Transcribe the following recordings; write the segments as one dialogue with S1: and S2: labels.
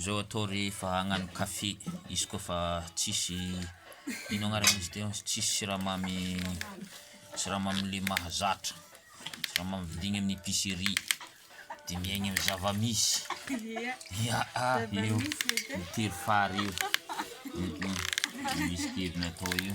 S1: Zao atao rehefa hagnano café izy koa fa tsisy ino agnaran'izy teo tsisy siramamy siramamy le mahazatra siramamy vidigny amin'ny épicerie de miaigny amin'ny zava-misy ya ah io tery fary io misy kevina atao io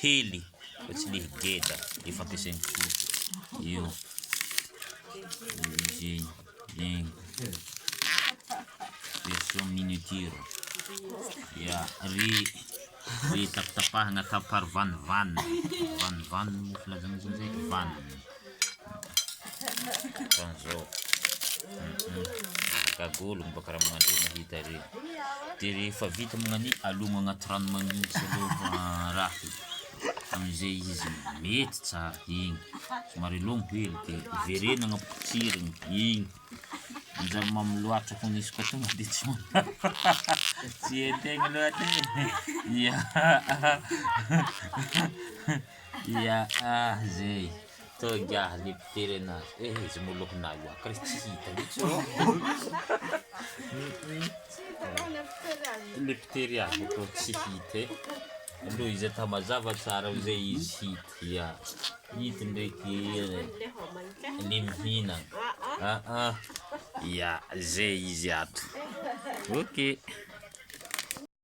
S1: hely fa tsy le geda le fampiasain'ny soa io izy egny version miniature ya re re tapitapahana taparo vanivany vanivany moa filazana zany zay vaniny Ohatran'izao, gagoly momba karama mandria mahita ery, dia rehefa vita mognani alogno agnaty rano manintsy aloha raha e, amin'izay izy mety tsara igny, somary alogno hely dia avereno agna potsirigny igny, manjary mamy loatra koa misy koa tonga dia tsy tsy hain-tegna loatra e, ia. Ia ah zey toga le mpitere anazy eh izy moloky na io akry tsy hita mitsy ô le mpitery azy ko tsy hita e aloha izy atao mazava tsara ao zay izy hita ia hita ndraiky le mihina ah ah ia zay izy ato ok